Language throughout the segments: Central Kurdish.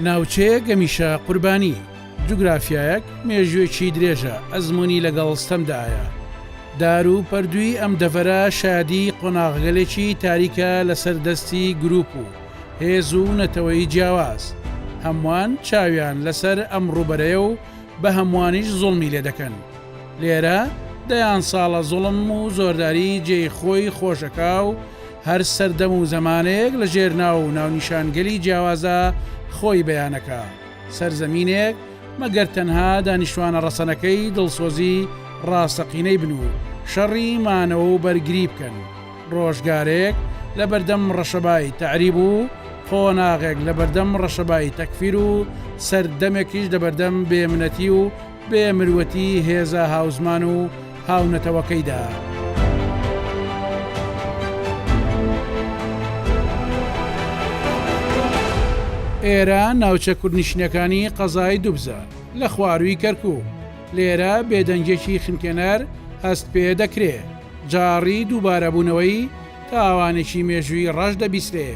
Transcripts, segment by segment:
ناوچەیە گەمیشە قوربانی جوگرافایەک مێژوێکی درێژە ئەزمموی لەگەڵ ستەمدایە دار و پەردووی ئەم دەڤەرە شادی قۆناغگەلێکی تاریکە لەسەر دەستی گروپ و هێز و نەتەوەی جیاواز، هەمووان چاویان لەسەر ئەم ڕووبەرەیە و بە هەمووانیش زوڵمی لێ دەکەن. لێرە دەیان ساڵە زوڵم و زۆرداری جێی خۆی خۆش ئەکا و هەر سەردەم و زەمانێک لە ژێر ناو و ناونیشانگەلی جیاوازا خۆی بیان ئەکا. سەرزەمینێک مەگەر تەنها دانیشتوانە ڕەسەنەکەی دڵسۆزی ڕاستەقینەی بن و شەڕی مانەوە و بەرگری بکەن. ڕۆژگارێک لە بەردەم ڕەشەبای تەعریب و قۆناغێک لە بەردەم ڕەشەبای تەکفیر و سەردەمێکیش لە بەردەم بێ منەتی و بێ مروەتی هێزە هاوزمان و هاونەتەوەکەیدا. ئێرە ناوچە کوردنشینەکانی قەزای دوبزە لە خوارووی کەرکووک، لێرە بێدەنگیەکی خنکێنەر هەست پێ دەکرێ، جاڕی دووبارەبوونەوەی تاوانێکی مێژووی ڕەش دەبیسرێ،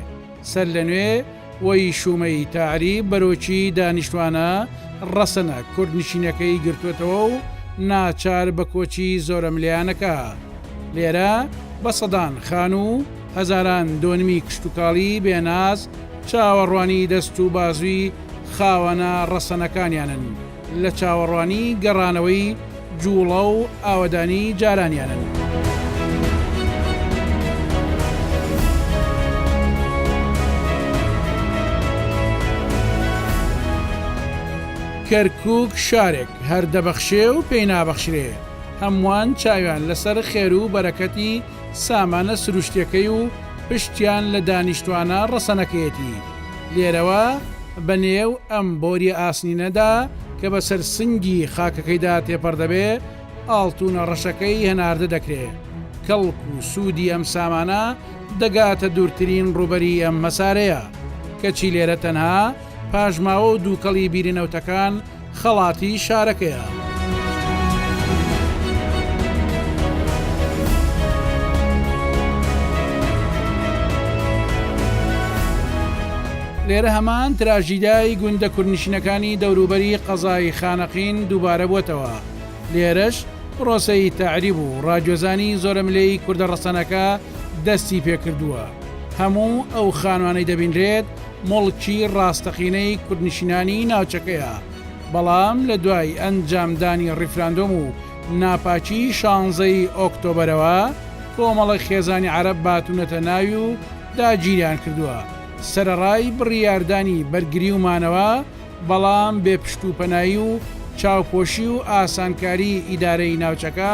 سەرلەنوێ وەی شوومەی تەعریب بەرۆکی دانیشتوانە ڕەسەنە کوردنشینەکەی گرتۆتەوە و ناچار بە کۆچی زۆرەملێیانەکە لێرە بە سەدان خان و هەزاران دۆنمی کشتوکاڵی بێ ناز چاوەڕوانی دەست و بازووی خاوەنە ڕەسەنەکانیانن. لە چاوەڕوانی گەڕانەوەی جووڵە و ئاوەدانی جارانیانن. کەرکووک شارێک هەر دەبەخشێ و پێی نابەخشرێ، هەمووان چاویان لەسەر خێر و بەرەکەتی سامانە سروشتیەکەی و پشتیان لە دانیشتوانە ڕەسەنەکەیەتی، لێرەوە بە نێو ئەم بۆریە ئاسنینەدا کە بە سەر سنگی خاکەکەیدا تێپەڕ دەبێ، ئاڵتونە ڕەشەکەی هەناردە دەکرێ. کەڵک و سودی ئەم سامانە دەگاتە دورترین ڕوبەری ئەم مەسارەیە، کەچی لێرە تەنها. پاژماوە و دووکەڵی بیری نەوتەکان خەڵاتی شارەکەیە. لێرە هەمان تراژیدای گوندە کوردنشینەکانی دەوروبەری قەزای خانەقین دووبارە بووەتەوە، لێرەش پرۆسەی تەعریب و ڕاگوێزانی زۆرەملێی کوردە ڕەسەنەکە دەستی پێکردووە، هەموو ئەو خانوانەی دەبینرێت، موڵکی ڕاستەقینەی کوردنشینانی ناوچەکەیە، بەڵام لە دوای ئەنجامدانی ڕیفراندۆم و ناپاکی شانزەی ئۆکتۆبەرەوە کۆمەڵێک خێزانی عەرەب باتونەتە ناوی و داگیریان کردوە سەرەڕای بڕیاردانی بەرگری و مانەوە بەڵام بێ پشت و پەنایی و چاوپۆشی و ئاسانکاری ئیدارەی ناوچەکە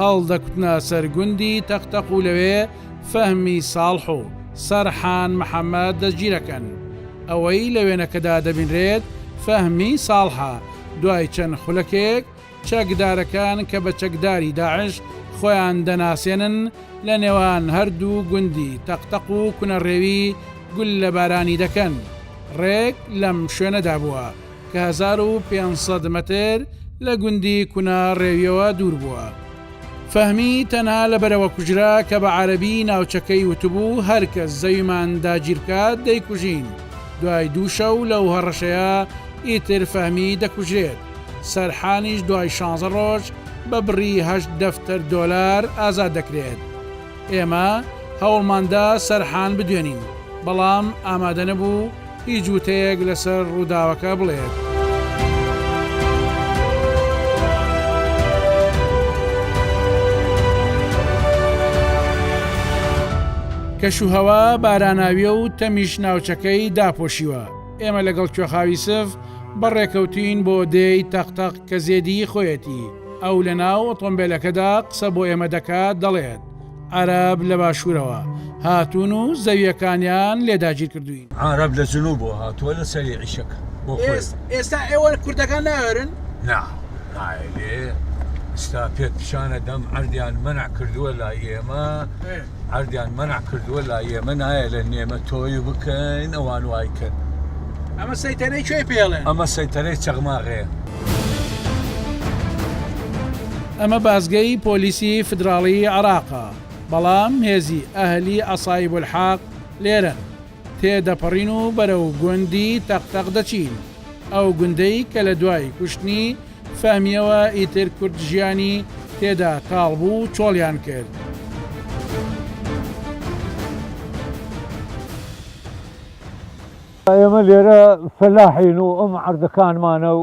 هەڵدەکوتنە سەر گوندی تەقتەق و لەوێ فەهمی ساڵح و سەرحان محەمەد دەستگیرەکەن. ئەوەی لە وێنەکەدا دەبینرێت فەهمی ساڵحە، دوای چەند خولەکێک چەکدارەکان کە بە چەکداری داعش خۆیان دەناسێنن لە نێوان هەردوو گوندی تەقتەق و کونەڕێوی گوللەبارانی دەکەن. ڕێک لەم شوێنەدا بووە. کە هەزار و پێنج سەد مەتر لە گوندی کونا ڕێویەوە دوور بووە. فەهمی تەنها لەبەرەوە کوژرا کە بە عەرەبی ناوچەکەی وتبوو هەر کەس زەویمان داگیر بکات دەیکوژین، دوای دوو شەو لەو هەڕەشەیە ئیتر فەهمی دەکوژرێت، سەرحانیش دوای شانزە ڕۆژ بە بڕی هەشت دەفتەر دۆلار ئازاد دەکرێت. ئێمە هەوڵماندا سەرحان بدوێنین، بەڵام ئامادە نەبوو هیچ وتەیەک لەسەر ڕووداوەکە بڵێت. کەشوهەوا باراناویە و تەمیش ناوچەکەی داپۆشیوە، ئێمە لەگەڵ کوێخا یوسف بەڕێکەوتین بۆ دێی تەق تەق کە زێدیی خۆیەتی، ئەو لەناو ئۆتۆمبێلەکەدا قسە بۆ ئێمە دەکات، دەڵێت، عەرەب لە باشوورەوە هاتوون و زەوییەکانیان لێ داگیرکردووین. عەرەب لە جنووبەوە هاتووە لە سەری عیشق بۆ خۆی. ئێستا ئێوە کوردەکان ناوێرن؟ نا، ناوێرێ. ئێستا پێت پیشان ئەدەم عەردیان مەنع کردووە لای ئێمە. عەردیان مەنع کردووە لا ئێمە نایە لە نێمە تۆی بکەین ئەوان وای کەن ئەمە سەیتەرەی کوێ پێڵێن ئەمە سەیتەرەی چەغماغەیە. ئەمە بازگەی پۆلیسی فیدراڵیی عێراقە، بەڵام هێزی ئەهلی عەسایبولحەق لێرەن. تێدەپەڕین و بەرەو گوندی تەق تەق دەچین، ئەو گوندەی کە لە دوای کوشتنی فەهمییەوە ئیتر کورد ژیانی تێدا تاڵ بوو و چۆڵیان کرد. ئێمە لێرە فەلاحین و ئەم عەرزەکانمانە و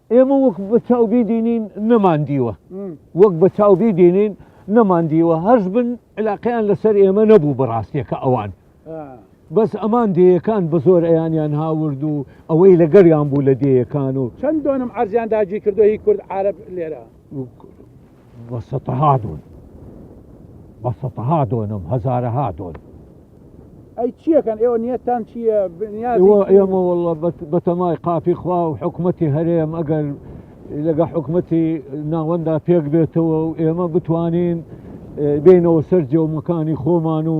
ئێمە وەک بە چاو بیدینین نەمان دیوە وەک بە چاو بیدینین نەمان دیوە هەرز بن علاقیان لەسەر ئێمە نەبوو بەڕاستیەکە ئەوان بەس ئەمان دەیەکان بە زۆر ئەیانیان هاورد و ئەوەی لەگەریان بوو لە دەیەکان و چەند دۆنم ئەرزیان داگی کردو هی کورد عرب لێرە بە سەتەها دۆن بە سەتەها دۆنم هەزارەها دۆن ئەی چیەکەن ئێوە نیەتان چییە ئێمە وڵە بەتەمای قاپی خوا و حکوومەتتی هەرێم ئەگەر لەگە حکوومەتتی ناوەندا پێک بێتەوە و ئێمە بتوانین بینەوە سەر جێومەکانی خۆمان و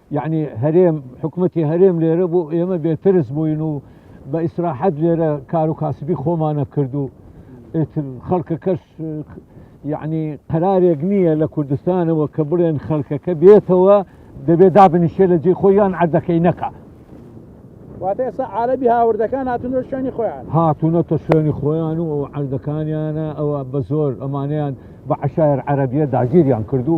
یەعنی هەرێم حکومەتی هەرێم لێرە بوو ئێمە بێترس بووین و بە ئیسراحەت لێرە کار و کاسبی خۆمانە کرد و خەڵکە کەش یعنی قەرارێک نییە لە کوردستانەوە کە بڵێن خەڵکەکە بێتەوە دەبێ دابنیشێ لە جێ خۆیان عردەکەی نەکە واتە ئێستا عالەبی هاوردەکان هاتون شوێنی خۆیان هاتونەتە شوێنی خۆیان و ئەو عردەکانیانە ئەوە بە زۆر ئەمانیان بە عشایر عەربیە داگیریان کردو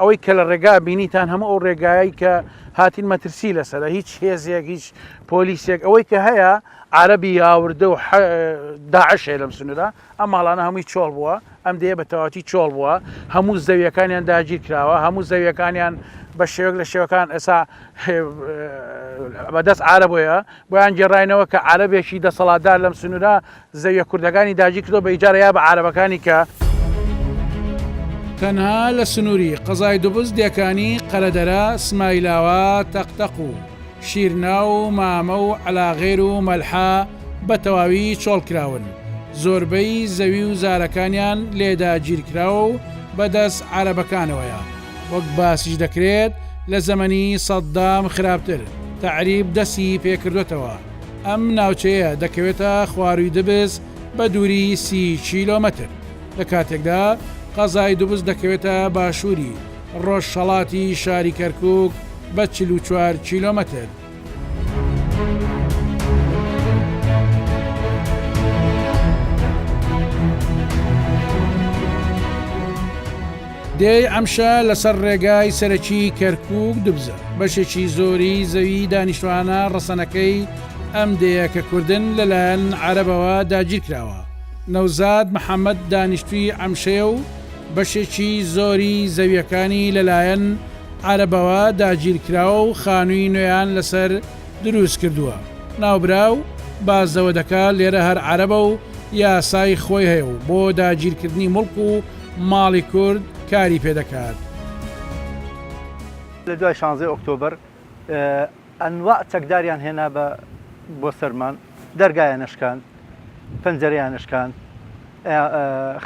ئەوەی کە لە ڕێگا بینیتان هەموو ئەو ڕێگایە کە هاتین مەترسی لەسەر هیچ هێزێک هیچ پۆلیسێک ئەوەی کە هەیە عربی یاوردە و داعشێ لەم سنوورە ئەم ماڵانە هەمووی چۆڵ بووە ئەم دەیە بە تەواتی چۆڵ بووە هەموو زەویەکانیان داگیر کراوە هەموو زەویەکانیان بە شێوەک لە شێوەکان ئێسا بەدەست عربەیە بۆیان گێڕینەوە کە عربێکی دەسەڵاتدار لەم سنوورە زەویە کوردەکانی داگیر کردوە بە ئیجارە یا بە عارەبەکانی کە. تەنها لە سنوری قەزای دوبز دێکانی قەرەدەرە، سمایلاوە، تەق تەق و شیرنا و مامە و عەلاغێر و مەلحا بە تەواوی چۆڵ کراون، زۆربەی زەوی و زارەکانیان لێ داگیر کراوە و بە دەست عارەبەکانەوەیە، وەک باسیش دەکرێت لە زەمەنی سەدام خراپتر تەعریب دەستی پێ کردوەتەوە. ئەم ناوچەیە دەکەوێتە خوارووی دبس بە دووری سی کیلۆمەتر، لە کاتێکدا قەزای دبس دەکەوێتە باشووری ڕۆژهەڵاتی شاری کەرکووک بە چل و چوار کیلۆمەتر. دێی عەمشە لەسەر ڕێگای سەرەکیی کەرکووک، دوبزە، بەشێکی زۆری زەوی دانیشتوانە ڕەسەنەکەی ئەم دێیە کە کوردن لەلایەن عەرەبەوە داگیر کراوە. نەوزاد محەمەد دانیشتووی عەمشەیە و بەشێکی زۆری زەوییەکانی لەلایەن عەرەبەوە داگیر کراوە و خانووی نوێیان لەسەر دروست کردووە. ناوبراو باس لەوە دەکات لێرە هەر عەرەبە و یاسای خۆی هەیە و بۆ داگیرکردنی موڵک و ماڵی کورد کاری پێ دەکات. لە دوای شانزەی ئۆکتۆبەر ئەنواع چەکداریان هێنا بە بۆ سەرمان دەرگایان ئەشکاند پەنجەرەیان ئەشکاند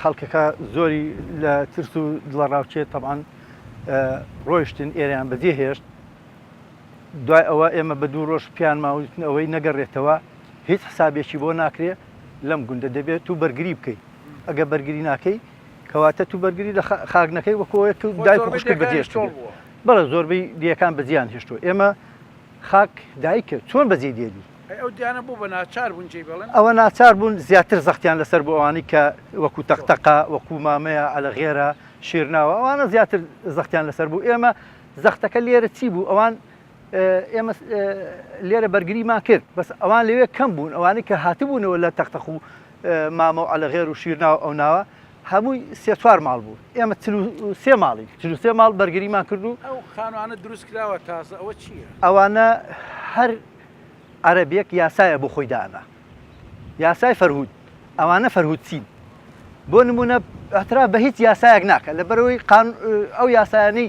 خەڵکەکە زۆری لە ترس و دڵەڕاوکێ تەبعەن ڕۆیشتن ئێرەیان بەجێ هێشت دوای ئەوە ئێمە بە دوو ڕۆژ پیانماوتن ئەوەی نەگەڕێتەوە هیچ حسابێکی بۆ ناکرێ لەم گوندە دەبێت تو بەرگری بکەی ئەگە بەرگری ناکەی کەواتە تو بەرگری لە خاک نەکەی وەکۆیە تو دایک خوشکی بەجێش بەڵە زۆربەی دیەکان بەجیان هێشتۆ ئێمە خاک دایکە چۆن بەجێ دێلی ئەو دیانە بۆ بە ناچار بوون جێ بڵێن ئەوە ناچار بوون زیاتر زەختیان لەسەر بۆ ئەوانی کە وەکو تەقتەقا وەکو مامەیە ئەلە غێرە شیرناوە ئەوانە زیاتر زەختیان لەسەر بوو ئێمە زەختەکە لێرە چی بوو ئەوان ئێمە لێرە بەرگریمان کرد بەس ئەوان لەوێ کەم بوون ئەوانەی کە هاتبوونەوە لە تەختەخ و مامە و ئەلەغێر و شیرناوە ئەو ناوە هەمووی سێ چوار ماڵ بوو ئێمە سێ ماڵی سێ ماڵ بەرگریمان کرد و ئەو خانوانە دروست کراوە تازە ئەوە چییە؟ ئەوانە هەر عەربێک یاسایە بۆ خۆی دانا یاسای فەرهود ئەوانە فەرهود چین بۆ نمونە ئەترا بە هیچ یاسایەک ناکە لە بەرەوەی ئەو یاسایانەی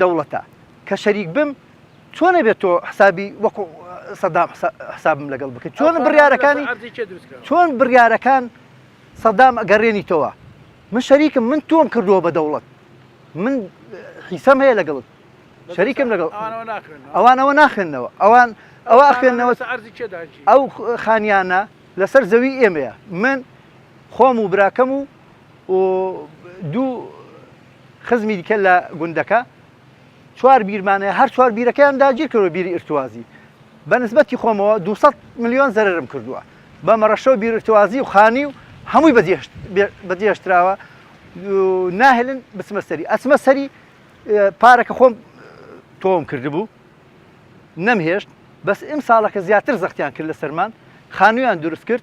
دەوڵەتە کە شەریک بم چۆن نەبێت تۆ حسابی وەکو سەدام حسابم لەگەڵ بکەیت چۆن بڕیارەکانی چۆن بڕیارەکان سەدام ئەگەڕێنی تۆوە من شەریکم من تۆم کردووە بە دەوڵەت من حیسەم هەیە لەگەڵت شەریکم لەگەڵ ئەوانەوە ناخێنەوە ئەوان ئەوە ئەخێنەوە ئەو خانیانە لەسەر زەوی ئێمەیە من خۆم و براکەم و و دوو خزمی دیکە لە گوندەکە چوار بیرمانەیە هەر چوار بیرەکەیان داگیر کردو بیری ئرتوازی بەنسبەتی خۆمەوە 200 میلیۆن زەرم کردووە بە مەڕەشە و بیرتوازی و خانی و هەمووی بەجێشتراوە ناهێلن بچمە سەری ئەچمە سەری پارەکە خۆم تۆم کردبوو نەمهێشت بەس ئەم ساڵەکە زیاتر زەختیان کرد لە سەرمان خانویان دروست کرد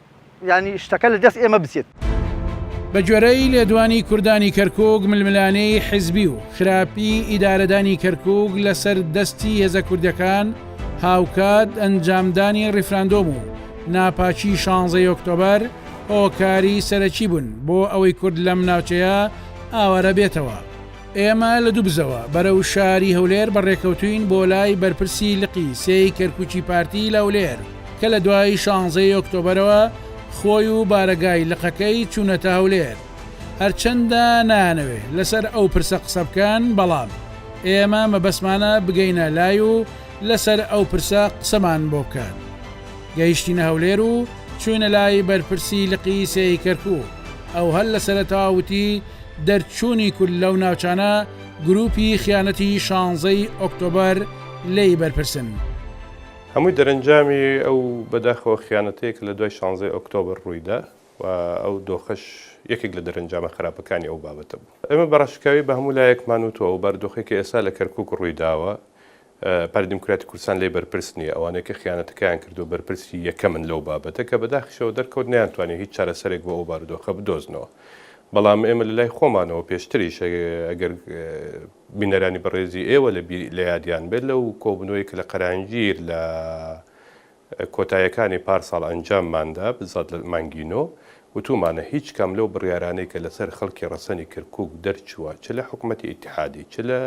یانی شتەکە لە دەست ئێمە بچێت. بە گوێرەی لێدوانی کوردانی کەرکوک ململانێی حیزبی و خراپی ئیدارەدانی کەرکوک لە سەر دەستی هێزە کوردەکان هاوکات ئەنجامدانی ڕیفراندۆم و ناپاکی شانزەی ئۆکتۆبەر هۆکاری سەرەکی بوون بۆ ئەوەی کورد لەم ناوچەیە ئاوارە بێتەوە. ئێمە لە دوبزەوە بەرەو شاری هەولێر بەڕێکەوتووین بۆ لای بەرپرسی لقی سێی کەرکوکی پارتی لە هەولێر کە لە دوای شانزەی ئۆکتۆبەرەوە خۆی و بارەگای لقەکەی چونەتە هەولێر هەرچەندە نایانەوێ لەسەر ئەو پرسە قسە بکەن بەڵام ئێمە مەبەستمانە بگەینە لای و لەسەر ئەو پرسە قسەمان بۆ بکەن گەیشتینە هەولێر و چوینە لای بەرپرسی لقی سێی کەرکوک ئەو هەر لە سەرەتاوە وتی دەرچوونی کورد لەو ناوچانە گرووپی خیانەتی شانزەی ئۆکتۆبەر لێی بەرپرسن. هەمووی دەرەنجامی ئەو بەداخەوە خیانەتەیە کە لە دوای شانزەی ئۆکتۆبەر ڕووی دا و ئەو دۆخەش یەکێک لە دەرەنجامە خراپەکانی ئەو بابەتە بوو. ئێمە بە ڕاشکاوی بە هەموو لایەکمان وتووە ئەو باردۆخەی کە ئێستا لە کەرکووک ڕووی داوە پارتی دیموکراتی کوردستان لێ بەرپرس نییە، ئەوانەی کە خیانەتەکەیان کردووە بەرپرسی یەکەمن لەو بابەتە، کە بەداخیشەوە دەرکەوت نەیانتوانی هیچ چارەسەرێک بۆ ئەو بارودۆخە بدۆزنەوە. بەڵام ئێمە لە لای خۆمانەوە پێشتریش ئەگەر بینەرانی بەڕێزی ئێوە لە یادیان بێت لەو کۆبوونەوەی کە لە قەرانجیر لە کۆتایەکانی پارساڵ ئەنجامماندا بزات لە مانگی نۆ، وتومانە هیچ کام لەو بڕیارانەی کە لەسەر خەڵکی ڕەسەنی کرکوک دەرچووە چ لە حکومەتی ئیتحادی چ لە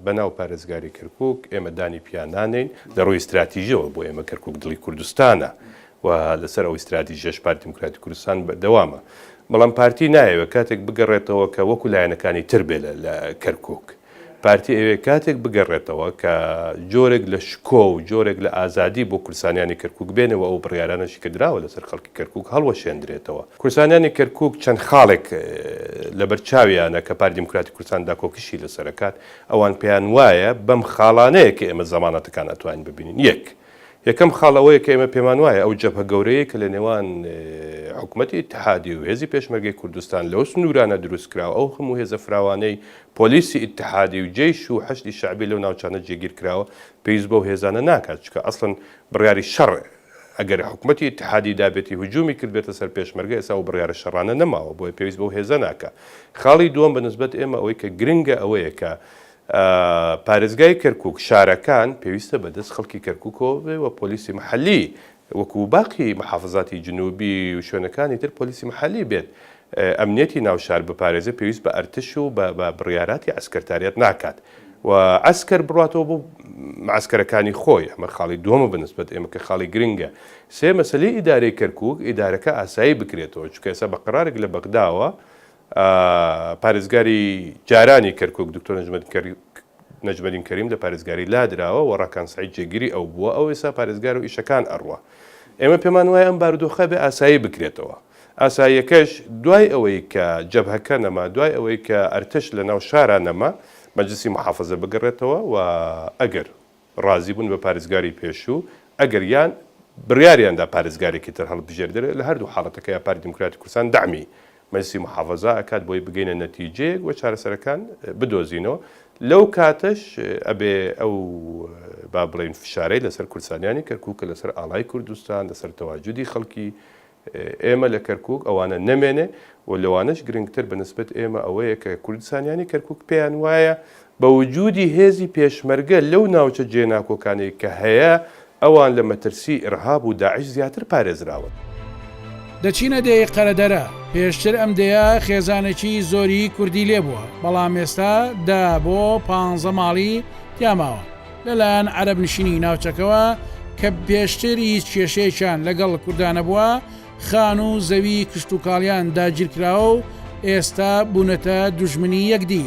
بەناو پارێزگاری کرکوک ئێمە دانی پیا نانێین، لە ڕووی ستراتیژیەوە بۆ ئێمە کرکوک دڵی کوردستانە و لەسەر ئەو ستراتیژیەش پارتی دیموکراتی کوردستان بەردەوامە، بەڵام پارتی نایەوێت کاتێک بگەڕێتەوە کە وەکو لایەنەکانی تر بێت لە کرکوک. پارتی ئەیەوێت کاتێک بگەڕێتەوە کە جۆرێک لە شکۆ و جۆرێک لە ئازادی بۆ کورسانیانی کەرکوک بێنێ و ئەو بڕیارانەشی کە دراوە لەسەر خەڵکی کەرکوک هەڵوەشێندرێتەوە. کورسانیانی کەرکوک چەند خاڵێک لەبەرچاویانە کە پارتی دیموکراتی کوردستان داکۆکیشی لەسەر ئەکات، ئەوان پێیان وایە بەم خاڵانەیە کە ئێمە زەمانەتەکان ئەتوانین ببینین، یەک. یەکەم خاڵ ئەوەیە کە ئێمە پێمان وایە ئەو جەبهە گەورەیەی کە لە نێوان حکومەتی ئیتحادی و هێزی پێشمەرگەی کوردستان لەو سنوورانە دروست کرا و ئەو هەموو هێزە فراوانەی پۆلیسی ئیتحادی و جەیش و حەشدی شەعبی لەو ناوچانە جێگیر کراوە پێویست بەو هێزانە ناکات چونکە ئەسڵەن بڕیاری شەڕ ئەگەر حکومەتی ئیتحادی دابێتی هجوومی کردبێتە سەر پێشمەرگە ئێستا ئەو بڕیارە شەڕانە نەماوە بۆیە پێویست بەو هێزە ناکا خاڵی دووەم بە نسبەت ئێمە ئەوەی کە گرنگە ئەوەیە کە پارێزگای کەرکوک شارەکان پێویستە بە دەست خەڵکی کەرکوکەوە بێ و پۆلیسی محەلی وەکو باقی محافزاتی جنوبی و شوێنەکانی تر پۆلیسی محەلی بێت ئەمنیەتی ناو شار بپارێزێ پێویست بە ئەرتش و بە بە بڕیاراتی عەسکەرتاریەت ناکات و عەسکەر بڕاتەوە بۆ معەسکەرەکانی خۆی ئەمە خاڵی دووەمە بە نسبەت ئێمە کە خاڵی گرنگە سێ مەسەلەی ئیدارەی کەرکوک ئیدارەکە ئاسایی بکرێتەوە چونکە ئێستا بە قەرارێک لە بەغداوە پارێزگاری جارانی کەرکوک دکتۆر نەجمەدین کەریم لە پارێزگاری لادراوە و ڕاکان سەعید جێگیری ئەو بووە، ئەو ئێستا پارێزگار و ئیشەکان ئەڕوا. ئێمە پێمان وایە ئەم بارودۆخە بێ ئاسایی بکرێتەوە. ئاساییەکەش دوای ئەوەی کە جەبهەکە نەما، دوای ئەوەی کە ئەرتەش لەناو شارا نەما، مەجلسی موحافەزە بگەڕێتەوە و ئەگەر ڕازی بوون بە پارێزگاری پێشوو، ئەگەر یان بڕیاریان دا پارێزگارێکی تر هەڵبژێردرێت، لە هەردوو حاڵەتەکەیا پارتی دیموکراتی کوردستان دەعمی مەجلیسی موحافەزا ئەکات بۆی بگەینە نەتیجەیەک و چارەسەرەکان بدۆزینەوە، لەو کاتەش ئەبێ ئەو با بڵێین فشارەی لەسەر کوردسالیانی کەرکوک کە لەسەر ئاڵای کوردستان، لەسەر تەواجودی خەڵکی ئێمە لە کەرکوک ئەوانە نەمێنێ و لەوانەش گرنگتر بە نسبەت ئێمە ئەوەیە کە کوردسانیانی کەرکوک پێیان وایە بە وجودی هێزی پێشمەرگە لەو ناوچە جێناکۆکانەی کە هەیە ئەوان لە مەترسی ئیرهاب و داعش زیاتر پارێزراون. دەچینە دێی قەرەدەرە، پێشتر ئەم دێیە خێزانێکی زۆری کوردی لێبووە، بەڵام ئێستا دە بۆ پانزە ماڵی تیا ماوە، لەلایەن عەرەب نشینی ناوچەکەوە کە پێشتر هیچ کێشەیەکیان لەگەڵ کوردا نەبووە، خان و زەوی کشتوکاڵیان داگیرکراوە و ئێستا بوونەتە دوژمنی یەکدی.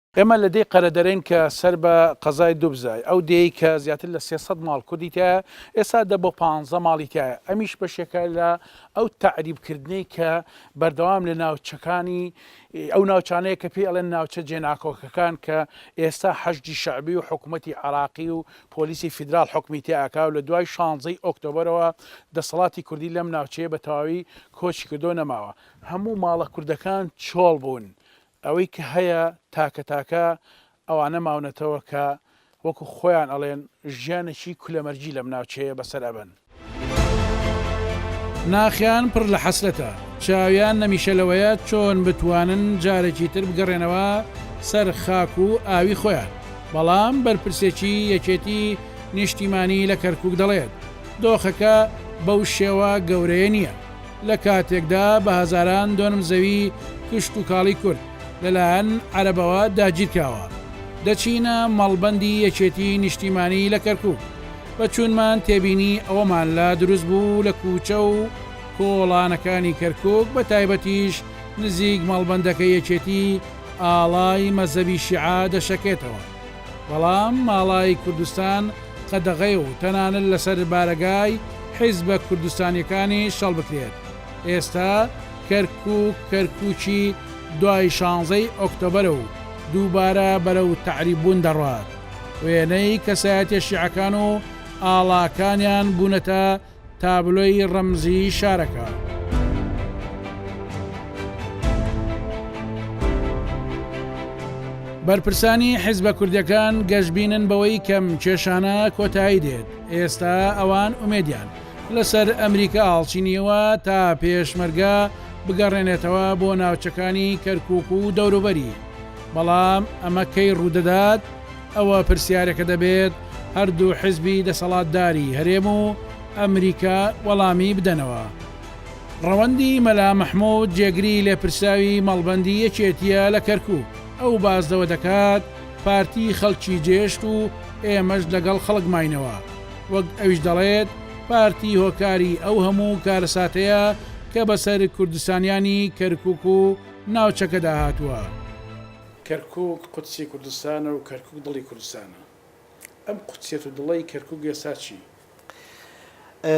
ئێمە لە دێی قەرەدەرەین کە سەر بە قەزای دوبزای، ئەو دێیەی کە زیاتر لە سێ سەد ماڵ کوردی تیایە، ئێستا دە بۆ پانزە ماڵی تیایە، ئەمیش بەشێکە لە ئەو تەعریب کردنەی کە بەردەوام لە ناوچەکانی ئەو ناوچانەیە کە پێی ئەڵێن ناوچە جێناکۆکەکان کە ئێستا حەشدی شەعبی و حکومەتی عەراقی و پۆلیسی فیدراڵ حوکمی تیا ئەکا و لە دوای شانزەی ئۆکتۆبەرەوە دەسەڵاتی کوردی لەم ناوچەیە بە تەواوی کۆچی کردوە نەماوە. هەموو ماڵە کوردەکان چۆڵ بوون، ئەوەی کە هەیە تاکە تاکە ئەوانە ماونەتەوە کە وەکو خۆیان ئەڵێن ژیانێکی کولەمەرگی لەم ناوچەیە بەسەر ئەبەن. ناخیان پڕ لە حەسرەتە، چاویان نەمیشە لەوەیە چۆن بتوانن جارێکی تر بگەڕێنەوە سەر خاک و ئاوی خۆیان، بەڵام بەرپرسێکی یەکێتی نیشتیمانی لە کەرکوک دەڵێت، دۆخەکە بەو شێوە گەورەیە نییە. لە کاتێکدا بە هەزاران دۆنم زەوی کشتوکاڵی کورد لەلایەن عەرەبەوە داگیرکراوە، دەچینە مەڵبەندی یەکێتی نیشتیمانی لە کەرکوک، بە چوونمان تێبینی ئەوەمان لا دروست بوو لە کوچە و کۆڵانەکانی کەرکوک بە تایبەتیش نزیک مەڵبەندەکە یەکێتی ئاڵای مەزەبی شیعە دەشەکێتەوە. بەڵام ماڵای کوردستان قەدەغەیە و تەنانەت لەسەر بارەگای حیزبە کوردستانیەکانیش هەڵبکرێت ئێستا کەرکوک کەرکوکی دوای شانزەی ئۆکتۆبەرە و دووبارە بەرەو تەعریب بوون دەڕوات وێنەی کەسایەتیە شیعەکان و ئاڵاکانیان بوونەتە تابلۆی ڕەمزی شارەکە. بەرپرسانی حیزبە کوردیەکان گەشبینن بەوەی کەم کێشانە کۆتایی دێت ئێستا ئەوان ئومێدیان لەسەر ئەمریکا هەڵچینیەوە تا پێشمەرگە بگەڕێنێتەوە بۆ ناوچەکانی کەرکک و دەوروبەری بەڵام ئەمە کەی ڕوودەدات ئەوە پرسیارەکە دەبێت هەردوو حزبی دەسەڵاتداری هەرێم و ئەمریکا وەڵامی بدەنەوە. ڕەوەندی مەلا مەحمود جێگری لێپرسراوی مەڵبەندی یەکێتیە لە کەرکوک، ئەو باس لەوە دەکات پارتی خەڵکی جێشت و ئێمەش لەگەڵ خەڵک ماینەوە، وەک ئەویش دەڵێت پارتی هۆکاری ئەو هەموو کارەساتەیە کە بەسەر کوردستانیانی کەرکوک و ناوچەکەدا هاتووە. کەرکوک قودسی کوردستانە و کەرکوک دڵی کوردستانە. ئەم قودسیەت و دڵەی کەرکوک ئێستا چی؟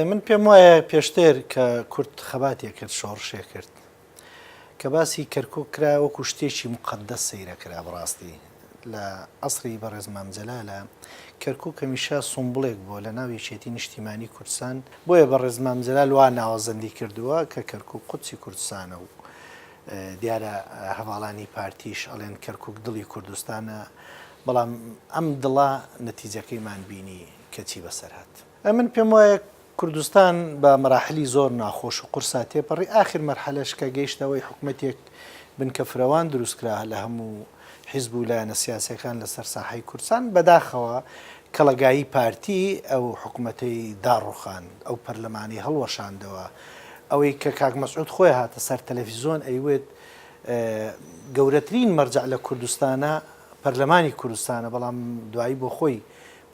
من پێم وایە پێشتر کە کورد خەباتێ کرد شۆڕشێ کرد کە باسی کەرکک کرا وەکو شتێکی مقدەس سەیرە کرا بڕاستی لە عسری بەڕێز مامجلالە کەرکک کەمیشە سومبلێک بۆ لە ناو یەکێتی نیشتیمانی کوردستان بۆیە بەڕێز مامجلال وا ناوەزەندی کردووە کە کەرکک قوچی کوردستانە و دیارە هەڤاڵانی پارتیش ئەڵێن کەرکوک دڵی کوردستانە، بەڵام ئەم دڵە نەتیجەکەیمان بینی کە چی بەسەر هات. من پێم وایە کوردستان بە مەراحلی زۆر ناخۆش و قورسا تێپەڕی، ئاخر مەرحەلەش کە گەیشتە ئەوەی حکومەتێک بنکە فرەوان دروست کرا لە هەموو حیزب و لایەنە سیاسیەکان لە سەر ساحەی کوردسان بە داخەوە کەڵەگایی پارتی ئەو حکومەتەی داڕوخاند ئەو پەرلەمانەی هەڵوەشاندەوە ئەوەی کە کاک مەسعود خۆی هاتە سەر تەلەفیزۆن ئەیوێت گەورەترین مەرجع لە کوردستانە پەرلەمانی کوردستانە بەڵام دوایی بۆ خۆی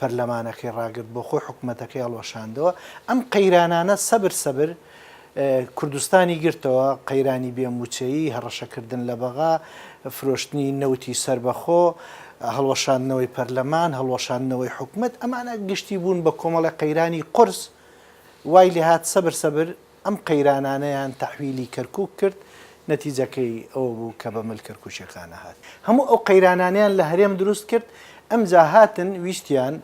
پەرلەمانەکەی ڕاگرت بۆ خۆی حکومەتەکەی هەڵوەشاندەوە ئەم قەیرانانە سەبر سەبر کوردستانی گرتەوە قەیرانی بێ مووچەیی هەڕەشەکردن لە بەغا فرۆشتنی نەوتی سربەخۆ هەڵوەشاندنەوەی پەرلەمان هەڵوەشاندنەوەی حکومت ئەمانە گشتی بوون بە کۆمەڵی قەیرانی قرس وای لێهات سەبر سەبر ئەم قەیرانانەیان تەحویلی کەرکوک کرد، نەتیجەکەی ئەوە بوو کە بە مل کەرکوکی قانع هات. هەموو ئەو قەیرانانەیان لە هەرێم دروست کرد، ئەمجا هاتن ویستیان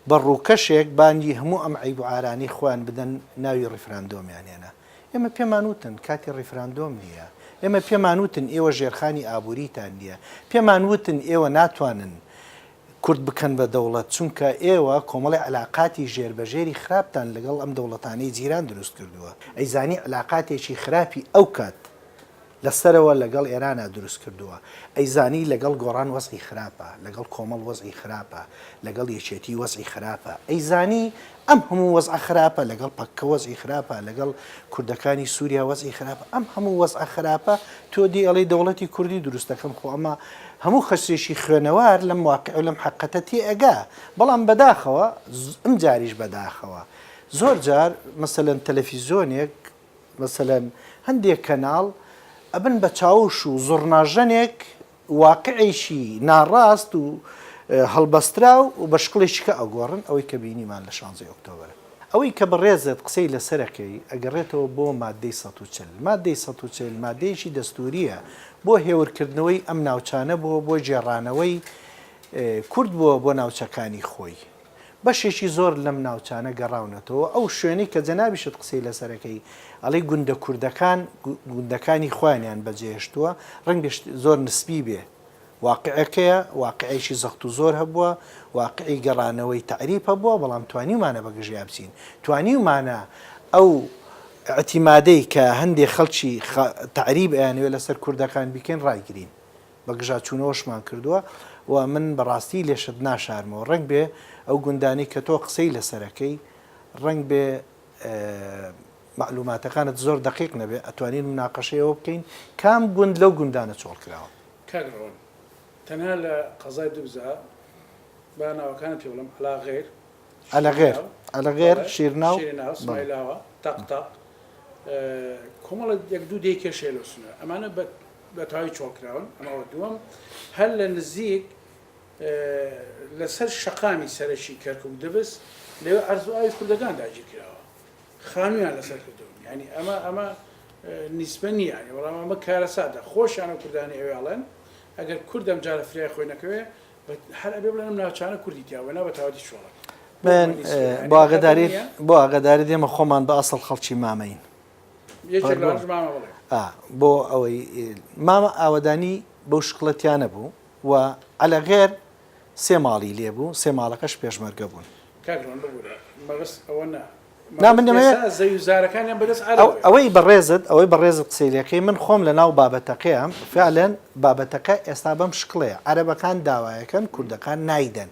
بە ڕووکەشێک بانگی هەموو ئەم عەیب و عارانەی خۆیان بدەن، ناوی ڕیفراندۆمیان هێنا. ئێمە پێمان وتن کاتی ڕیفراندۆم نییە، ئێمە پێمان وتن ئێوە ژێرخانی ئابووریتان نییە، پێمان وتن ئێوە ناتوانن کورد بکەن بە دەوڵەت، چونکە ئێوە کۆمەڵی عەلاقاتی ژێر بە ژێری خراپتان لەگەڵ ئەم دەوڵەتانەی جیران دروست کردووە، ئەیزانی عەلاقاتێکی خراپی ئەو کات لە سەرەوە لەگەڵ ئێرانا دروست کردووە، ئەیزانی لەگەڵ گۆڕان وەزعی خراپە، لەگەڵ کۆمەڵ وەزعی خراپە، لەگەڵ یەکێتی وەزعی خراپە، ئەیزانی ئەم هەموو وەزعە خراپە لەگەڵ پەککە وەزعی خراپە لەگەڵ کوردەکانی سووریا وەزعی خراپە ئەم هەموو وەزعە خراپە تۆ دی ئەڵی دەوڵەتی کوردی دروستەکەم خۆ ئەمە هەموو خەسێکی خوێنەوار لەم واقع و لەم حقەتە تێ ئەگا بەڵام بەداخەوە ئەم جاریش بەداخەوە زۆر جار مەسەلەن تەلەفیزۆنێک مەسەلەن هەندێک کەناڵ ئەبن بە چاوش و زڕناژەنێک واقعێکی ناڕاست و هەڵبەستراو بە شکڵێکی کە ئەگۆڕن ئەوەی کە بینیمان لە شانزەی ئۆکتۆبەر. ئەوەی کە بەڕێزت قسەی لەسەر ئەکەی ئەگەڕێتەوە بۆ ماددەی سەد و چل. ماددەی سەد و چل ماددەیەکی دەستوورییە بۆ هێورکردنەوەی ئەم ناوچانە بووە بۆ گێڕانەوەی کورد بووە بۆ ناوچەکانی خۆی. بەشێکی زۆر لەم ناوچانە گەڕاونەتەوە ئەو شوێنەی کە جەنابیشت قسەی لەسەر ئەکەی ئەڵێی گوندە کوردەکان گوندەکانی خۆیانیان بەجێهێشتووە ڕەنگە زۆر نسبی بێ واقعەکەیە واقعێکی زەخت و زۆر هەبووە واقعی گەڕانەوەی تەعریب هەبووە بەڵام توانیومانە بە گژیا بچین توانیومانە ئەو ئیعتیمادەی کە هەندێ خەڵکی تەعریب ئەیانەوێ لەسەر کوردەکان بیکەین ڕایگرین بەگژاچوونەوەشمان کردووە و من بەڕاستی لێشت ناشارمەوە، ڕەنگبێ ئەو گوندانەی کە تۆ قسەی لەسەرەکەی ڕەنگبێ مەعلوماتەکانت زۆر دەقیق نەبێ، ئەتوانین مناقەشەی ئەوە بکەین کام گوند لەو گوندانە چۆڵکراوە؟ کاک ڕۆن تەنها لە قەزای دوبزە با ناوەکانت پێ بڵێم، عەلاغێر، شیریناو، ئەلەغێر، شیرناو، شیریناو، سمایلاوە، تەق تەق، کۆمەڵە یەک دوو دێی کێش هەیە لەو سنوورە، ئەمانە بە. بە تەواوی چۆڵ کراون ئەمە وە دووەم هەر لە نزیک لە سەر شەقامی سەرەکی کەرکک دبس لەوێ عەرز و ئاوی کوردەکان داگیر کراوە خانویان لەسەر کردون ینی ئەمە ئەمە نیسبە نییە وەڵام ئەمە کارەساتە خۆشیانە کوردانی ئەوێڵێن ئەگەر کوردم جارە فرای خۆی نەکەوێ هەر ئەبێ بڵێنم ناوچانە کوردی تیاوە نا بە تاوەتی چۆڵەکە من بۆ ئاگداری بۆ ئاگداری دێمە خۆمان بە ئەسڵ خەڵکی مامەین بۆ ئەوەی مامە ئاوەدانی بەو شکڵەتیانە بوو و عەلە غێر سێ ماڵی لێ بوو سێ ماڵەکەش پێشمەرگە بوون ئەوەی بەڕێزت ئەوەی بەڕێزت قسەیلەکەی من خۆم لە ناو بابەتەکەیان فعلەن بابەتەکە ئێستا بەم شکڵەیە عەرەبەکان داوایەکەن کوردەکان نایدەن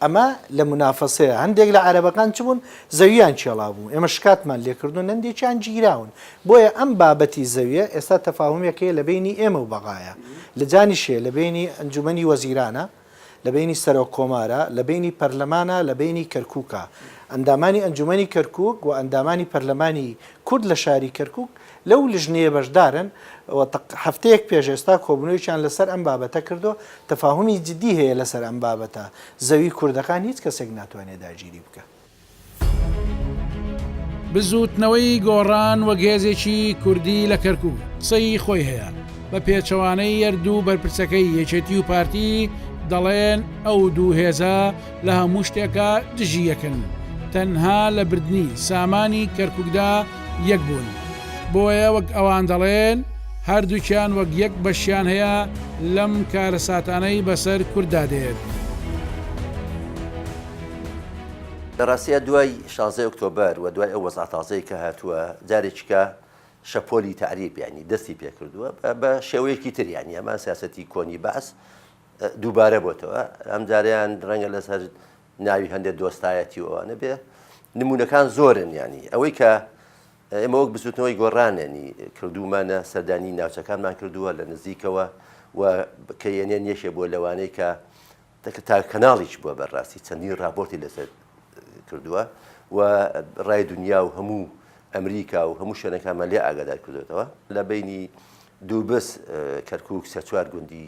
ئەمە لە منافەسەیە هەندێک لە عەرەبەکان چ بوون زەوییان کێڵابوو ئێمە شکاتمان لێکردون هەندێکیان گیراون بۆیە ئەم بابەتی زەویە ئێستا تەفاهمێکەیە لە بینی ئێمە و بەغایە لە جانیشێ لە بینی ئەنجومنی وەزیرانە لە بینی سەرۆک کۆمارە لە بینی پەرلەمانە لە بینی کەرکووکە ئەندامانی ئەنجومنی کەرکک و ئەندامانی پەرلەمانی کورد لە شاری کەرکک لەو لیژنەیە بەشدارن و تەق هەفتەیەک پێش ئێستا کۆبوونەوەیەکیان لەسەر ئەم بابەتە کردووە، تەفاهومی جدی هەیە لەسەر ئەم بابەتە، زەوی کوردەکان هیچ کەسێک ناتوانێت داگیری بکات. بزووتنەوەی گۆڕان وەک هێزێکی کوردی لە کەرکووک قسەی خۆی هەیە، بە پێچەوانەی یەر دوو بەرپرسەکەی یەکێتی و پارتی دەڵێن ئەو دوو هێزە، لە هەموو شتێکا دژی یەکن تەنها لە بردنی سامانی کەرکوکدا یەک بوون بۆیە وەک ئەوان دەڵێن هەردووکیان وەک یەک بەشیان هەیە لەم کارەساتانەی بەسەر کورددا دێت. لە ڕاستیا دوای شانزەی ئۆکتۆبەر و دوای ئەو وەزعە تازەی کە هاتووە جارێکیکە شەپۆلی تەعریب یانی دەستی پێکردووە بە شێوەیەکی تر یانی ئەمە سیاسەتی کۆنی بەعس دووبارە بۆتەوە ئەمجاریان ڕەنگە لەسەر ناوی هەندێک دۆستایەتی و ئەوانە بێ نمونونەکان زۆرن ینی ئەوەی کە ئێمە وەک بزوتنەوەی گۆڕانێنی کردومانە سەردانی ناوچەکانمان کردووە لە نزیکەوە و کە یەنێن یەکێ بۆ لەوانەیە کە تەکە تا کەناڵیش بووە بەڕاستی چەندین راپۆرتی لەسەر کردووە و ڕای دنیا و هەموو ئەمریکا و هەموو شوێنەکانمان لێ ئاگادار کردوێتەوە لە بینی دووبس کەرکک سەچوار گوندی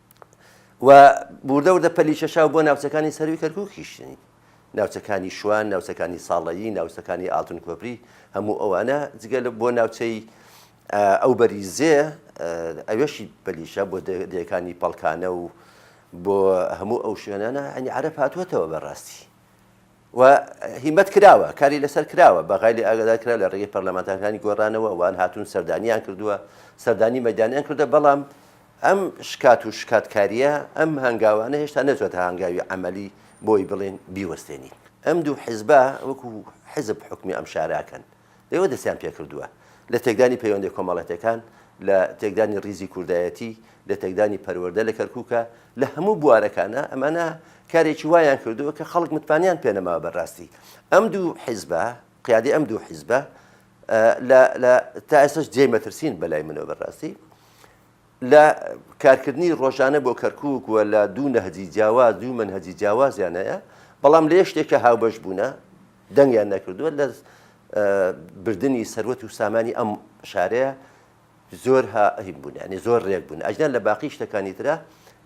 و وردە وردە پەلی کێشاو بۆ ناوچەکانی سەرووی کەرکووکیش ناوچەکانی شوان ناوچەکانی ساڵەیی ناوچەکانی ئاڵتون کۆپری هەموو ئەوانە جگە لە بۆ ناوچەی ئەو بەریزێ ئەوێشی پەلیشە بۆ دەیەکانی پەڵکانە و بۆ هەموو ئەو شوێنانە ئەنی عرب هاتووەتەوە بەڕاستی و هیمەت کراوە کاری لەسەر کراوە بەغای لێ ئاگادار کرا لە ڕێگەی پەرلەمانتارەکانی گۆڕانەوە ئەوان هاتوون سەردانیان کردووە سەردانی مەدانیان کردە بەڵام ئەم شکات و شکاتکاریە ئەم هەنگاوانە هێشتا نەچێتە هەنگاوی عملی بۆی بڵێن بیوەستێنین ئەم دوو حیزبە وەکو حزب حکومی ئەم شاراکەن ئێوە دەستیان پێکردووە لە تێکدانی پەیوەندە کۆمەڵاتیەکان، لە تێکدانی ڕیزی کوردایەتی، لە تێکدانی پەروەردە لە کەرکوکا، لە هەموو بوارەکانا ئەمانە کارێکی وایان کردووە کە خەڵک متمانیان پێ نەماوە بە ڕاستی ئەم دوو حیزبە قیادی ئەم دوو حیزبە لە لە تا ئێستاش جێی مەترسین بە لای منەوە بە ڕاستی لە کارکردنی ڕۆژانە بۆ کەرکک وە لە دوو نەهجی جیاواز دوو منهجی جیاوازیانەیە بەڵام لێ شتێکە هاوبەش بوونە دەنگیان نەکردووە لە بردنی سەروەت و سامانی ئەم شارەیە زۆر هاهیم بوون ینی زۆر ڕێک بوون ئەجدان لە باقی شتەکانی تررا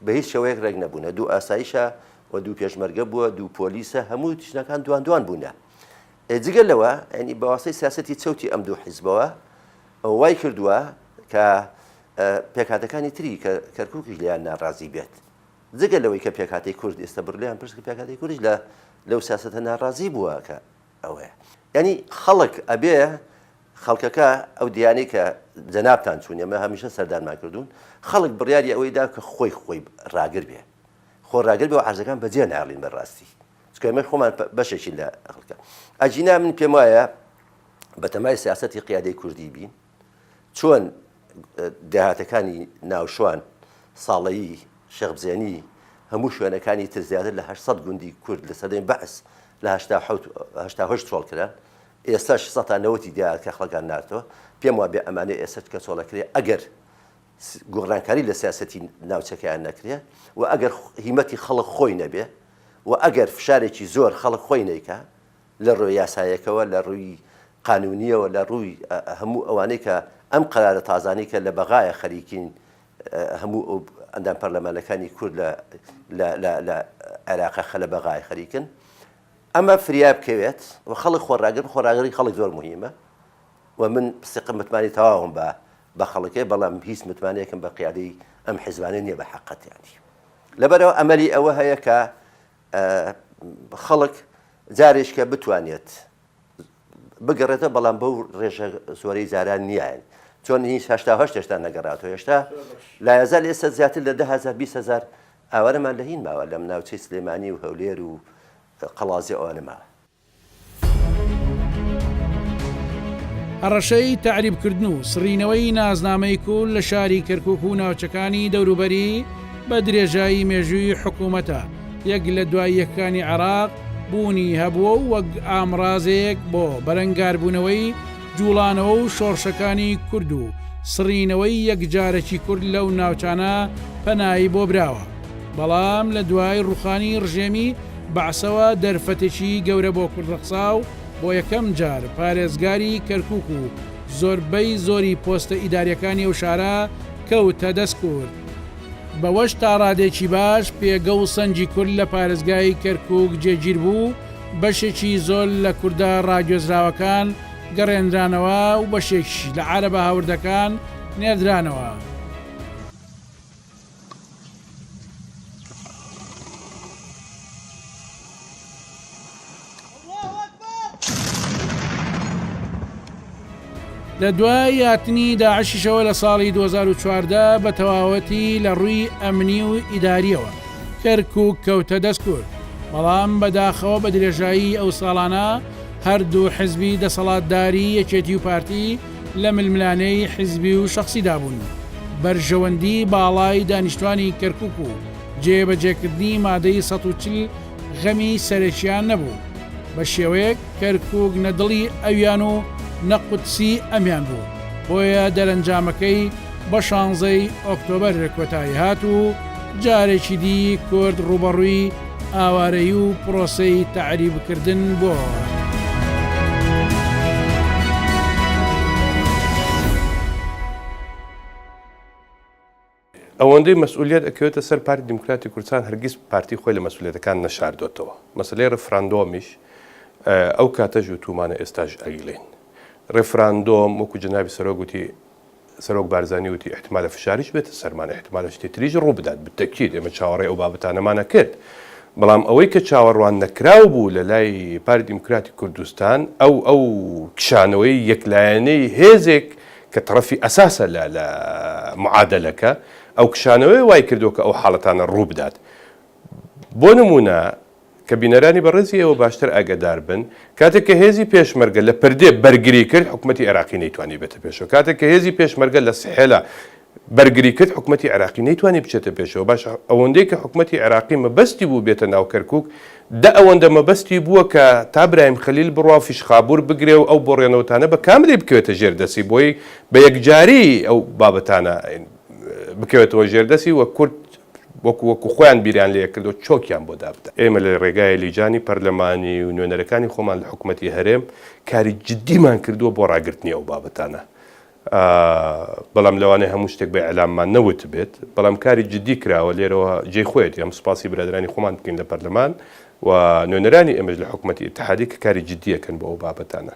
بە هیچ شەوەیەک ڕێک نەبوونە دوو ئاسایشە و دوو پێشمەرگە بووە دوو پۆلیسە هەموو تشنەکان دوان دوان بوونە جگە لەوە ئەنی بەواسەی سیاستی چەوتی ئەم دوو حیزبەوە وای کردووە کە پێکاتەکانی تری کە کەرکووکیش لیان ناڕازی بێت جگە لەوەی کە پێکهاتەی کورد ئێستا بڕ لێیان پرسکە پێکهاتەی کوردیش لە لەو سیاسەتە ناڕازی بووە کە ئەوەیە یانی خەڵک ئەبێ خەڵکەکە ئەو دیانەی کە جەنابان چوون ئەمە هەمیشە سەردانمان کردوون خەڵک بڕیاری ئەوەی دا کە خۆی خۆی ڕاگر بێ خۆ ڕاگر بێ و عرزەکان بەجێ ناڵین بەڕاستی چکەمە خۆمان بەشێکی لە خەڵکە ئەجینا من پێم وایە بەتەمای سیاستی قیادەی کوردی بین چۆن دێهاتەکانی ناوشوان، ساڵەیی، شێخ بزێنی، هەموو شوێنەکانی تر زیاتر لە هەشت سەد گوندی کورد لە سەردەمی بەعس لە هەشتا حەوت هەشتا هەشت چۆڵ کران، ئێستەش سەتا نەوەتی دێهات کەخڵەکان نارتەوە، پێم وابێ ئەمانە ئێستەش کەچۆڵەکرێ ئەگەر گۆڕانکاری لە سیاسەتی ناوچەکەیان نەکرێ و ئەگەر هیمەتی خەڵک خۆی نەبێ و ئەگەر فشارێکی زۆر خەڵک خۆی نەیکا لە ڕووی یاسایەکەوە، لە ڕووی قانوونییەوە، لە ڕووی هەموو ئەوانەی کە ئەم قەرارە تازانەی کە لە بەغایە خەریکین هەموو ئەو ئەندام پەرلەمانەکانی کورد لە لە لە لە عێراقە خە لە بەغایە خەریکن ئەمە فریا بکەوێت و خەڵک خۆڕاگر خۆڕاگری خەڵک زۆر مهمە و من سقم متمانی تەواوم بە بە خەڵکێ بەڵام هیچ متمانەیەکم بە قیادەی ئەم حیزبانە نییە بە حەقەتیانی لەبەرەوە ئەمەلی ئەوە هەیە کە ئە خەڵک جارێش کە بتوانێت بگەڕێتە بەڵام بەو ڕێژە زۆرەی جاران نیایەن چۆن هیچ هشتا هەشت هێشتا نەگەڕاتەوە هێشتا لایەزار لە ئێستا زیاتر لە ده هزار بیست هزار ئاوارەمان لە هین ماوە لەم ناوچەی سلێمانی و هەولێر و قەڵازی ئەوانە ماوە هەڕەشەی تەعریبکردن و سڕینەوەی نازنامەی کول لە شاری کەرکوک و ناوچەکانی دەوروبەری بە درێژایی مێژووی حکوومەتە یەک لە دوای یەکەکانی عێراق بوونی هەبووە و وەک ئامڕازێک بۆ بەرەنگاربوونەوەی جوڵانەوە و شۆڕشەکانی کورد و سڕینەوەی یەکجارەکی کورد لەو ناوچانە پەنایی بۆ براوە بەڵام لە دوای ڕوخانی ڕژێمی بەعسەوە دەرفەتێکی گەورە بۆ کورد ڕەخسا و بۆ یەکەم جار پارێزگاری کەرکووک و زۆربەی زۆری پۆستە ئیدارییەکانی ئەو شارە کەوتە دەست کورد، بەوەش تا ڕادەیەکی باش پێگە و سەنگی کورد لە پارێزگای کەرکووک جێگیر بوو و بەشێکی زۆر لە کوردە ڕاگوێزراوەکان گەڕێنرانەوە و بەشێکیش لە عارەبە هاوردەکان نێردرانەوە. لە دوای یاتنی داعشیشەوە لە ساڵی 2014 بە تەواوەتی لە ڕووی ئەمنی و ئیداریەوە کەرک و کەوتە دەستکرد بەڵام بەداخەوە بە درێژایی ئەو ساڵانە هەردوو حزبی دەسەڵاتداری یەکێتی و پارتی لە ململانێی حزبی و شەخسیدا بوون، بەرژەوەندی باڵای دانیشتوانی کەرکوک و جێبەجێکردنی مادەی سەد و چل غەمی سەرەکیان نەبوو، بە شێوەیەک کەرکوک نە دڵی ئەویان و نە قودسی ئەمیان بوو، بۆیە دەرەنجامەکەی بە شانزەی ئۆکتۆبەر کۆتایی هات و جارێکی دی کورد ڕووبەڕووی ئاوارەیی و پرۆسەی تەعریبکردن بۆ. ئەوەندەی مەسئولیت ئەکەوێتە سەر پارتی دیموکراتی کوردستان هەرگیز پارتی خۆی لە مەسئولەتەکان نەشاردۆتەوە مەسلەی ڕفراندۆمیش ئەو کاتەژ و تومانە ئێستاش ئەویلین ڕفراندۆم وەکو جناوی سەرۆ گوتی سەرۆک بارزانی وتی، ئیحتمالە فشاریش بێتە سەرمان، ئیحتمالە شتی تریش ڕووبدات، بالتەکید ئێمە چاوەڕێی ئەو بابەتانەمانە کرد، بەڵام ئەوەی کە چاوەڕوان نەکراو بوو لە لای پارتی دیموکراتی کوردستان ئەو ئەو کشانەوەی یەک لایەنەی هێزێک کە تەڕەفی ئەساسە لە لە معادەلەکە، ئەو کشانەوەیە وای کردووە کە ئەو حاڵەتانە ڕووبدات. بۆ نموونە کە بینەرانی بەڕێزی ئێوە باشتر ئاگەدار بن، کاتێک کە هێزی پێشمەرگە لە پردێ بەرگری کرد، حکومەتی عێراقی نەیتوانی بێتە پێشەوە. کاتێک کە هێزی پێشمەرگە لە سحێلا بەرگری کرد، حکومەتی عێراقی نەیتوانی بچێتە پێشەوە. باشە ئەوەندەی کە حکومەتی عێراقی مەبەستی بوو بێتە ناو کەرکووک، دە ئەوەندە مەبەستی بووە کە تا برایم خەلیل بڕوا و فیشخابور بگرێ و ئەو بۆڕێنەوتانە بە کاملی بکەوێتە ژێر دەستی، بۆیە بە یەکجاری ئەو بابەتانە بکەوێتەوە ژێر دەستی و کورد وەکو وەکو خۆیان بیریان لێ کردو چۆکیان بۆ دابدا. ئێمە لە رێگای لیجانی پەرلەمانی و نوێنەرەکانی خۆمان لە حکومەتی هەرێم کاری جدیمان کردوە بۆ راگرتنی ئەو بابەتانە بەڵام لەوانەیە هەموو شتێک بە ئیعلاممان نەوتبێت بەڵام کاری جدی کراوە لێرەوە جێی خۆیەتی ئەم سوپاسی برادەرانی خۆمان بکەین لە پەرلەمان و نوێنەرانی ئێمەش لە حکومەتی ئیتحادی کە کاری جدیەکەن بۆ ئەو بابەتانە.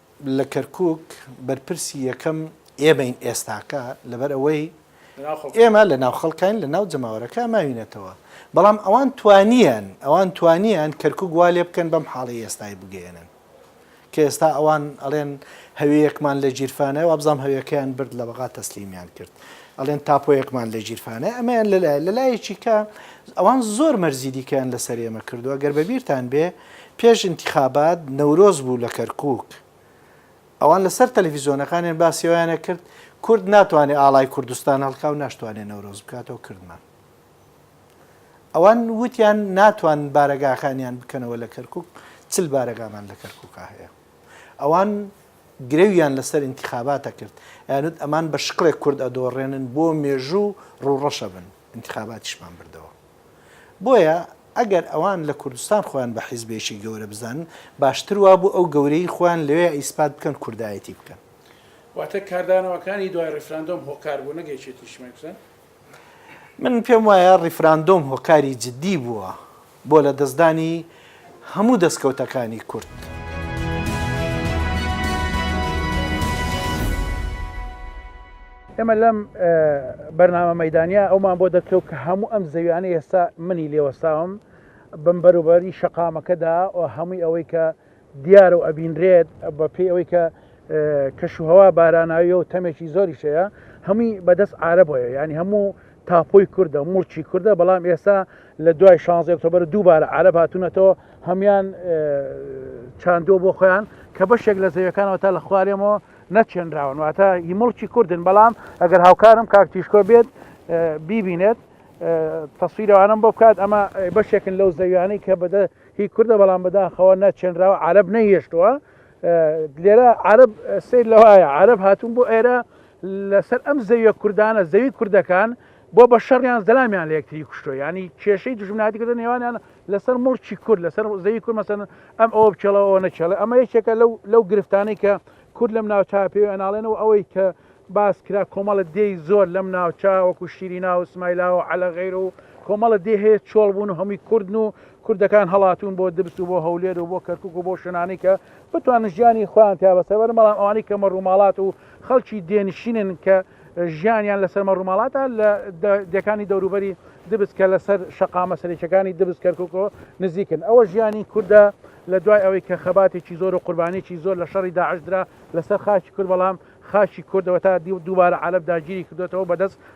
لە کەرکوک بەرپرسی یەکەم ئێمەین ئێستاکە لەبەر ئەوەی ئێمە لە ناو خەڵکین لە ناو جەماوەرەکە ماوینەتەوە بەڵام ئەوان توانیان ئەوان توانیان کەرکک وا لێ بکەن بەم حاڵی ئێستای بگەێنن کە ئێستا ئەوان ئەڵێن هەویەکمان لە گیرفانە وابزانام هەویەکەیان برد لە بەغا تەسلیمیان کرد ئەڵێن تاپۆیەکمان لە گیرفانە ئەمەیان لەلای لەلایەکی کە ئەوان زۆر مەرزی دیکەیان لە سەرێمە کردووە گەر بەبییران بێ پێش ئینتیخابات نەورۆز بوو لە کەرکووک ئەوان لە سەر تەلەفیزۆنەکانیان باسی ئەویان ئەکرد کورد ناتوانێ ئاڵای کوردستان هەڵکا و ناشتوانێ نەورۆز بکاتەوە کردمان ئەوان وتیان ناتوان بارەگاکانیان بکەنەوە لە کەرکووک چل بارەگامان لە کەرکووکا هەیە ئەوان گرەویان لەسەر ئینتیخاباتە کرد یانوت ئەمان بە شکڵێک کورد ئەدۆڕێنن بۆ مێژوو ڕووڕەشە بن ئینتیخاباتیشمان بردەوە بۆیە ئەگەر ئەوان لە کوردستان خۆیان بە حیزبێکی گەورە بزانن باشتر وابوو ئەو گەورەیی خۆیان لەوێ ئیسپات بکەن کوردایەتی بکەن. واتە کاردانەوەکانی دوای ڕیفراندۆم هۆکار بوو نەک یەکێتی نیشتمانی کوردستان؟ من پێم وایە ڕیفراندۆم هۆکاری جدی بووە بۆ لەدەستدانی هەموو دەستکەوتەکانی کورد. ئێمە لەم بەرنامە مەیدانیا ئەومان بۆ دەرکەوت کە هەموو ئەم زەویانە ئێستا منی لێوەساوم بم بەروبەری شەقامەکەدا و هەمووی ئەوەی کە دیارە و ئەبینرێت بە پێی ئەوەی کە کەش و هەوا باراناویە و تەمێکی زۆری شەیە هەمووی بەدەست عربەیە ینی هەموو تاپۆی کوردە، موڵکی کوردە، بەڵام ئێستا لە دوای شانزدە ئۆکتۆبەر دووبارە عەرەب هاتوونەتەوە هەموان چاندووە بۆ خۆیان کە بەشێک لە زەویەکانەوە تا لە خوارێمەوە نەچێنراون واتە هی مڵکی کوردن بەڵام ئەگەر هاوکارم کاک تیشکۆ بێت بیبینێت تەسویرەوانم بۆ بکات ئەمە بەشێکن لەو زەویانەی کە بەدە هی کوردە بەڵام بەداخەوە نەچێنراوە عرب نەهێشتووە لێرە عرب سیر لەوایە عرب هاتون بۆ ئێرە لەسەر ئەم زەویە کوردانە زەوی کوردەکان بۆ بە شەڕیان زەلامیان لە یەکتری کوشتۆ ینی کێشەی دژمناتی کردن نێوانیان لەسەر مڵکی کورد لەسەر زەوی کورد مەسەن ئەم ئەوە بچێڵەوە نەچێڵە ئەمە یەکێکە لەو لەو گرفتانەی کە کورد لەم ناوچە پێوە ئەناڵێنەوە ئەوەی کە باس کرا کۆمەڵە دێی زۆر لەم ناوچە وەکو شیری ناو سمایلا و عەلە غیر و کۆمەڵە دێ هەیە چۆڵ بوون و هەمووی کوردن و کوردەکان هەڵاتون بۆ دبس و بۆ هەولێر و بۆ کەرکک و بۆ شنانی کە بتوان ژیانی خۆیان تیا بەسەر بەرن بەڵام ئەوانی کەمە ڕووماڵات و خەڵکی دێ نشینن کە ژیانیان لە سەرمە ڕووماڵاتە لە دێکانی دەوروبەری دبس کە لەسەر شەقامە سەرێکەکانی دبس کەرککۆ نزیکن ئەوە ژیانی کوردە لە دوای ئەوەی کە خەباتێکی زۆر و قوربانێکی زۆر لە شەڕی داعش درا لەسەر خاکی کورد بەڵام خاکی کوردەوە تا دی دووبارە عەرەب داگیری کردوێتەوە بەدەست